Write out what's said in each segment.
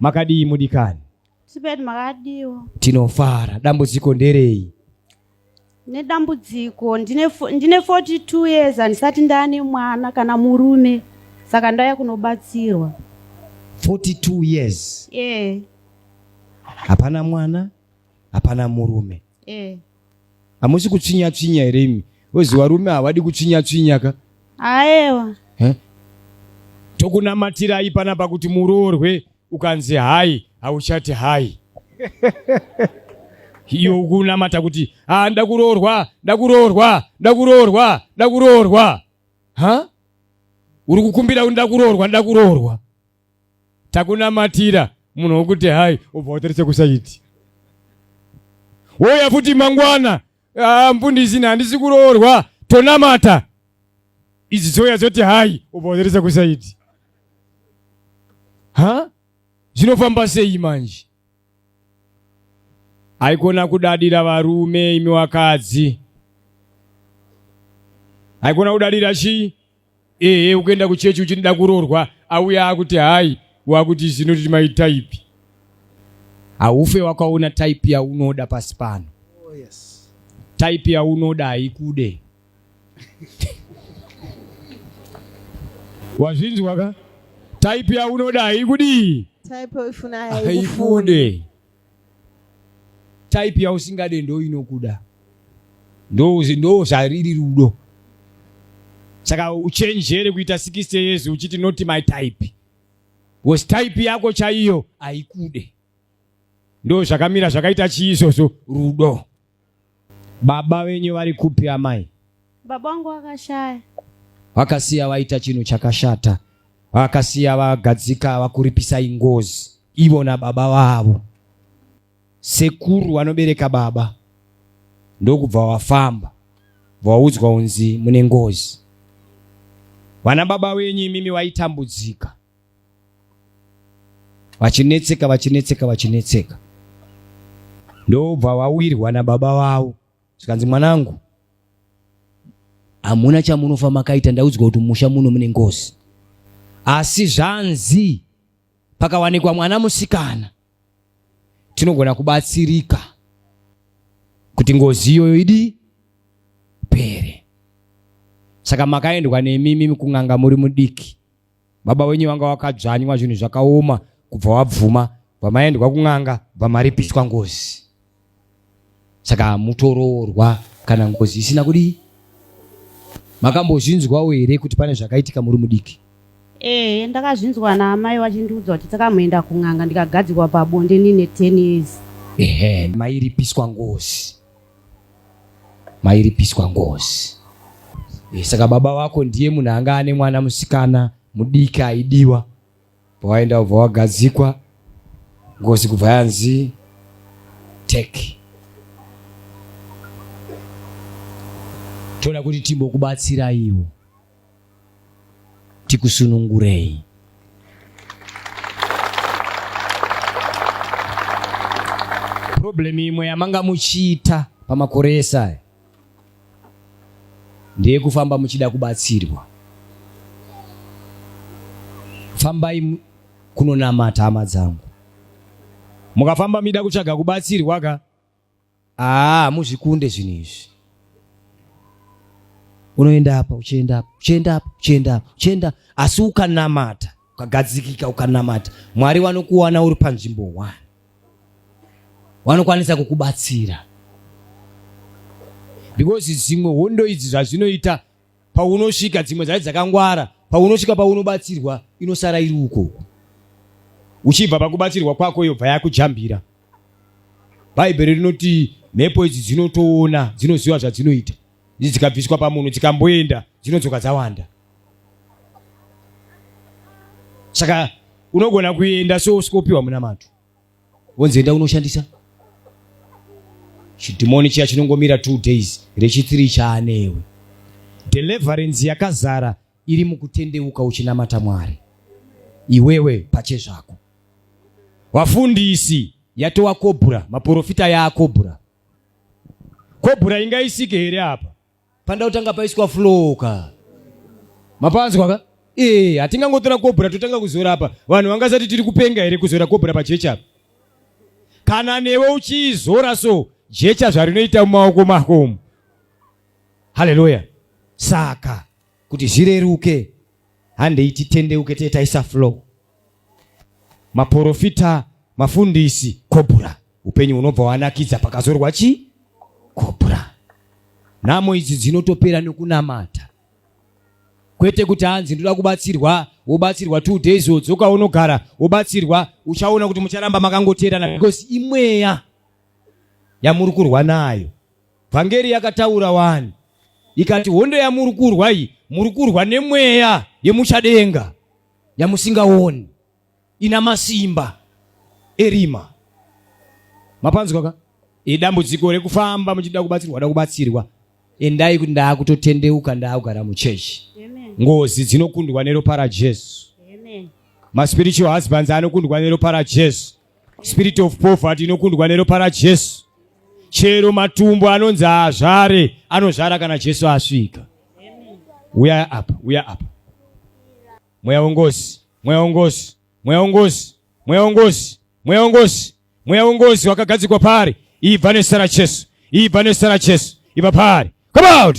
makadii mudikani sibeti makadiwo tinofara dambudziko nderei nedambudziko ndine 42 years handisati ndaane mwana kana murume saka ndauya kunobatsirwa 42 years yeah. hapana mwana hapana murume yeah. hamusi kutsvinya tsvinya here imi ozi varume havadi kutsvinya tsvinya ka aewa eh? tokunamatirai panapa kuti muroorwe ukanzi hai hauchati hai iyo ukunamata kuti ah, ndakuroorwa ndakuroorwa ndakuroorwa ndakuroorwa ha uri kukumbira kuti ndakuroorwa ndakuroorwa takunamatira munhu wokuti hai ubva wotarise kusaiti wouya futi mangwana ah, mfundisi handisi kuroorwa tonamata idzi dzouya dzoti hai ubva wotarise kusaiti ha zvinofamba sei manje haikona kudadira varume imi wakadzi haikona kudadira chii ehe ukuenda kuchechi uchiti da kuroorwa auya akuti hai wakuti zvinoti mai type haufe wakaona type yaunoda pasi pano oh, yes. type yaunoda haikude wazvinzwa ka type yaunoda haikudii haikude type yausingade ndo inokuda ndo zvariri rudo saka uchenjere kuita 60 years uchiti not my type was type yako chaiyo haikude ndo zvakamira zvakaita chii izvozvo rudo Baba venyu vari kupi amai? Baba wangu wakashaya. Vakasiya vaita chinhu chakashata, vakasiya vagadzika vakuripisa ingozi ivo nababa vavo. Sekuru vanobereka baba ndokubva vafamba, vaudzwa unzi mune ngozi. Vana baba venyu imimi vaitambudzika. vachinetseka vachinetseka vachinetseka ndobva vawirwa nababa vavo zvikanzi mwanangu hamuna chamunofa makaita ndaudzwa kuti musha muno mune ngozi asi zvanzi pakawanikwa mwana musikana tinogona kubatsirika kuti ngozi iyoyo idi pere saka makaendwa nemimi kun'anga muri mudiki baba wenyu vanga vakadzvanywa zvinhu zvakaoma kubva wabvuma vamaendwa kun'anga vamaripiswa ngozi saka mutoroorwa kana ngozi isina kudii makambozvinzwawo here kuti pane zvakaitika muri mudiki ee ndakazvinzwa naamai vachindiudza kuti takamuenda kun'anga ndikagadzikwa pabonde nine ten years ehe mairipiswa ngozi mairipiswa ngozi eh, saka baba vako ndiye munhu anga ane mwana musikana mudiki aidiwa pawaenda ubva wagadzikwa ngozi kubva yanzi take toda kuti timbokubatsiraiwo tikusunungurei. Problem imwe yamanga muchiita pamakore ese aya ndeyekufamba muchida kubatsirwa. Fambai kunonamata hama dzangu, mukafamba mida kutsvaga kubatsirwa ka aa muzvikunde zvinhu izvi unoenda apa uchienda apa uchienda apa uchienda apa uchienda asi ukanamata ukagadzikika ukanamata mwari vanokuwana uri panzvimbo one vanokwanisa kukubatsira because dzimwe hondo idzi zvazvinoita paunosvika dzimwe dzacho dzakangwara paunosvika paunobatsirwa inosara iri ukoko uchibva pakubatsirwa kwako yobva yakujambira bhaibheri rinoti mhepo idzi dzinotoona dzinoziva zvadzinoita idzi dzikabviswa pamunhu dzikamboenda dzinodzoka dzawanda saka unogona kuenda so usikopiwa munamato wonzi enda unoshandisa chidhimoni chiya chinongomira two days rechitiri chaanewe deliverance yakazara iri mukutendeuka uchinamata mwari iwewe pache zvako wafundisi yatowa kobhura maporofita yaakobhura kobhura ingaisike here apa panda kutanga paiswa flow ka mapanzwa ka ee hatingangotora kobhura totanga kuzora apa vanhu vangasati tiri kupenga here kuzora kobhura pajechi apa kana newe uchiizora so jecha zvarinoita mumaoko mako umu haleluya saka kuti zvireruke handei titendeuke tee taisa flow maporofita mafundisi kobura upenyu hunobva wanakidza pakazorwa chi kobura nhamo idzi dzinotopera nekunamata kwete kuti hanzi ndoda kubatsirwa wobatsirwa two days wodzoka unogara wobatsirwa uchaona kuti mucharamba makangoteerana because imweya yamuri kurwa nayo Vhangeri yakataura wani ikati hondo yamuri kurwa iyi muri kurwa nemweya yemuchadenga yamusingaoni ina masimba erima mapanzwa ka idambudziko rekufamba muchida kubatsirwa da kubatsirwa endai kuti ndaakutotendeuka ndaakugara muchechi ngozi dzinokundwa neropa rajesu maspiritual husbands anokundwa neropa rajesu Spirit of poverty inokundwa neropa raJesu. Chero matumbu anonzi azvare anozvara kana Jesu asvika. Uya apa, uya apa. Mweya wengozi, mweya wengozi, mweya wengozi, mweya wengozi, mweya wengozi, mweya wengozi wakagadzikwa paari. Ibva nezita raJesu, ibva nezita raJesu, ibva paari. Come out!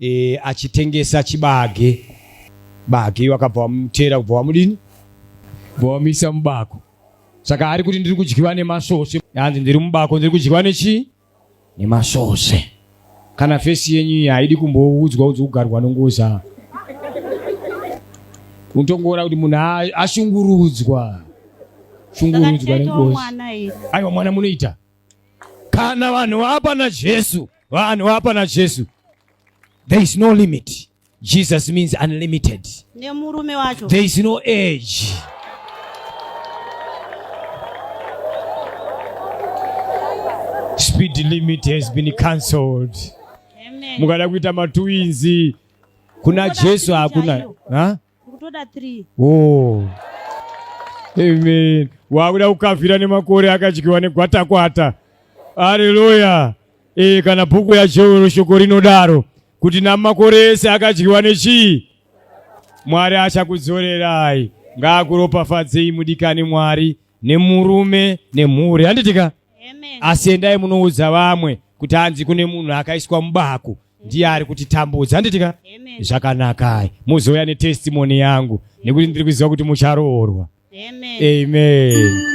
e, achitengesa chibage bage wakabva wamutera kubva wamudini bva wamuisa mubako saka ari kuti ndiri kudyiwa nemasvosve hanzi ndiri mubako ndiri kudyiwa nechii nemasvosve kana fesi yenyu iyi haidi kumboudzwa udzi kugarwa nongoza unotongoona kuti munhu ashungurudzwa shungurudzwa nengozi aiwa mwana munoita kana vanhu vapa na Jesu vanhu vapa na Jesu there is no limit Jesus means unlimited ne murume wacho there is no age speed limit has been cancelled mukada kuita matwinzi kuna Jesu hakuna kutoda 3 oh amen wakuda kukavhira nemakore akadyiwa negwatakwata aleluya e, kana bhuku yajeuro shoko rinodaro kuti namakore ese akadyiwa nechii mwari achakudzorerai ngaakuropafadzei mudikani mwari nemurume nemhuri handitika asi endai munoudza vamwe kuti hanzi kune munhu akaiswa mubako ndiye ari kuti tambudza handitika zvakanakai muzouya netestimoni yangu nekuti ndiri kuziva kuti mucharoorwa amen, amen. amen.